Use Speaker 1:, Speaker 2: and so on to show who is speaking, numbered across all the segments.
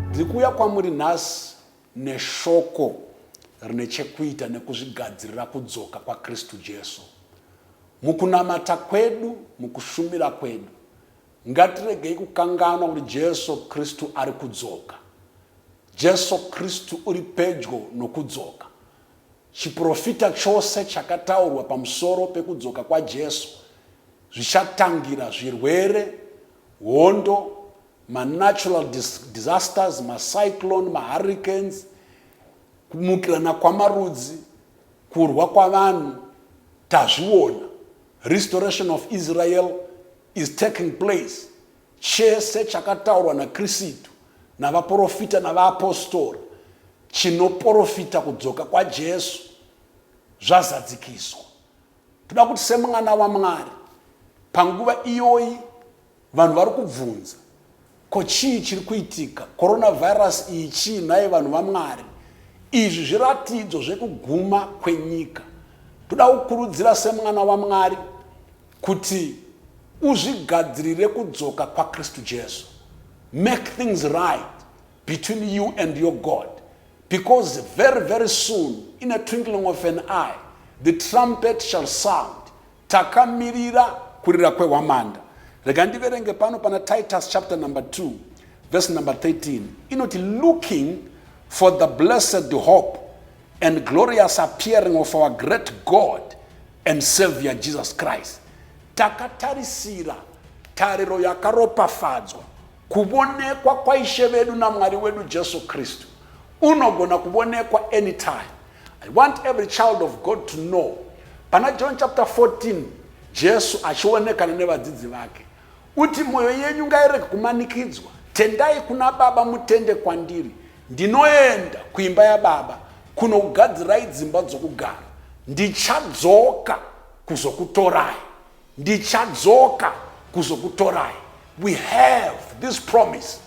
Speaker 1: ndiri kuuya kwamuri nhasi neshoko rine chekuita nekuzvigadzirira kudzoka kwakristu jesu mukunamata kwedu mukushumira kwedu ngatiregei kukanganwa kuti jesu kristu ari kudzoka jesu kristu uri pedyo nokudzoka Chiprofita chose chakataurwa pamusoro pekudzoka kwaJesu zvichatangira zvirwere, hondo, manatural disasters, macyclone, mahurricanes, kumukirana kwamarudzi, kurwa kwavanhu, tazviona. Restoration of Israel is taking place. Chese chakataurwa naKristu navaporofita navaapostora chinoporofita kudzoka kwaJesu zvazadzikiswa. Toda kuti semwana waMwari, panguva iyoyi vanhu vari kubvunza, ko chii chiri kuitika? Coronavirus iyi chii nhai vanhu vaMwari? Izvi zviratidzo zvekuguma kwenyika. Toda kukurudzira semwana waMwari Kuti uzvigadzirire kudzoka kwaKristu Jesu. Make things right between you and your God because very very soon in a twinkling of an eye the trumpet shall sound. Takamirira kurira kwehwamanda. Rega ndiverenge pano pana Titus chapter number 2 verse number 13 inoti looking for the blessed hope and glorious appearing of our great God and Savior Jesus Christ. Takatarisira tariro yakaropafadzwa kuvonekwa kwaishe vedu namwari wedu jesu kristu unogona kuvonekwa anytime i want every child of god to know pana john chapter 14 jesu achionekana nevadzidzi vake Uti moyo yenyu ngairege kumanikidzwa. Tendai kuna baba mutende kwandiri. Ndinoenda kuimba yababa kunokugadzirai dzimba dzokugara. Ndichadzoka kuzokutorai. Ndichadzoka kuzokutorai. We have this promise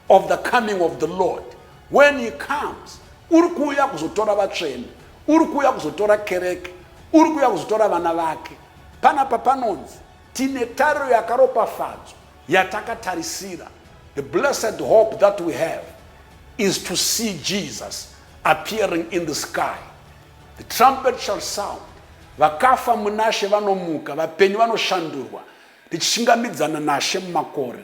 Speaker 1: of the coming of the Lord. When he comes, uri kuuya kuzotora vatsvene, uri kuuya kuzotora kereke, uri kuuya kuzotora vana vake. Panapa panonzi Tine tariro yakaropafadzwa yatakatarisira. The blessed hope that we have is to see Jesus appearing in the sky. The trumpet shall sound. Vakafa munashe vanomuka, vapenyu vanoshandurwa, tichishingamidzana nashe mumakore.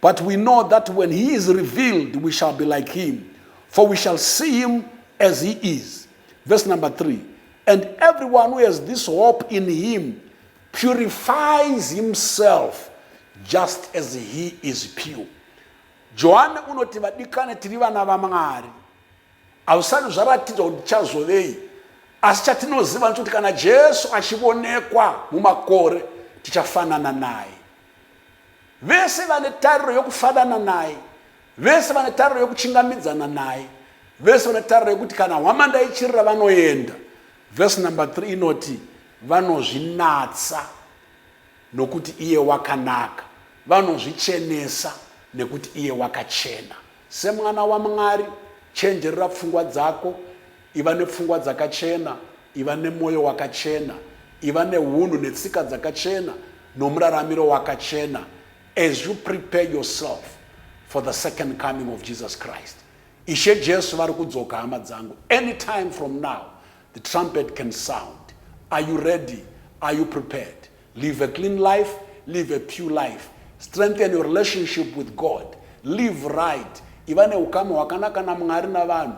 Speaker 1: But we know that when he is revealed, we shall be like him, for we shall see him as he is. Verse number three. And everyone who has this hope in him purifies himself just as he is pure. johani unoti vadikane tiri vana vamwari hausati zvaratidza kuti tichazovei asi chatinoziva ndechokuti kana jesu achionekwa mumakore tichafanana naye Vese vane tariro yokufanana naye, vese vane tariro yokuchingamidzana naye, vese vane tariro yokuti kana hwamanda ichirira vanoenda. Vhesi number 3 inoti vanozvinatsa nokuti iye wakanaka, vanozvichenesa nekuti iye wakachena. Semwana waMwari, chenjerera pfungwa dzako, iva nepfungwa dzakachena, Iva nemwoyo wakachena. Iva neunhu netsika dzakachena nomuraramiro wakachena as you prepare yourself for the second coming of Jesus Christ. Ishe Jesu vari kudzoka hama dzangu. Anytime from now the trumpet can sound. Are you ready? Are you prepared? Live a clean life, live a pure life. Strengthen your relationship with God. Live right. Iva neukama hwakanaka naMwari navanhu.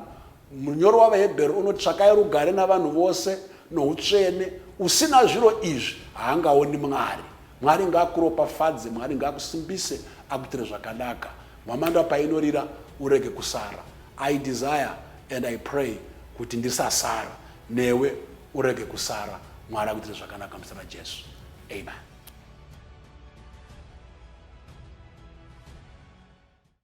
Speaker 1: Munyori wavaHebheru unoti tsvakai rugare navanhu vose noutsvene. Usina zviro izvi haangaoni Mwari. Mwari ngaakuropafadze, Mwari ngaakusimbise, akuitire zvakanaka. Mhamanda painorira urege kusara. I desire and I pray kuti ndisasara newe urege kusara mwari akuitire zvakanaka muzita rajesu amen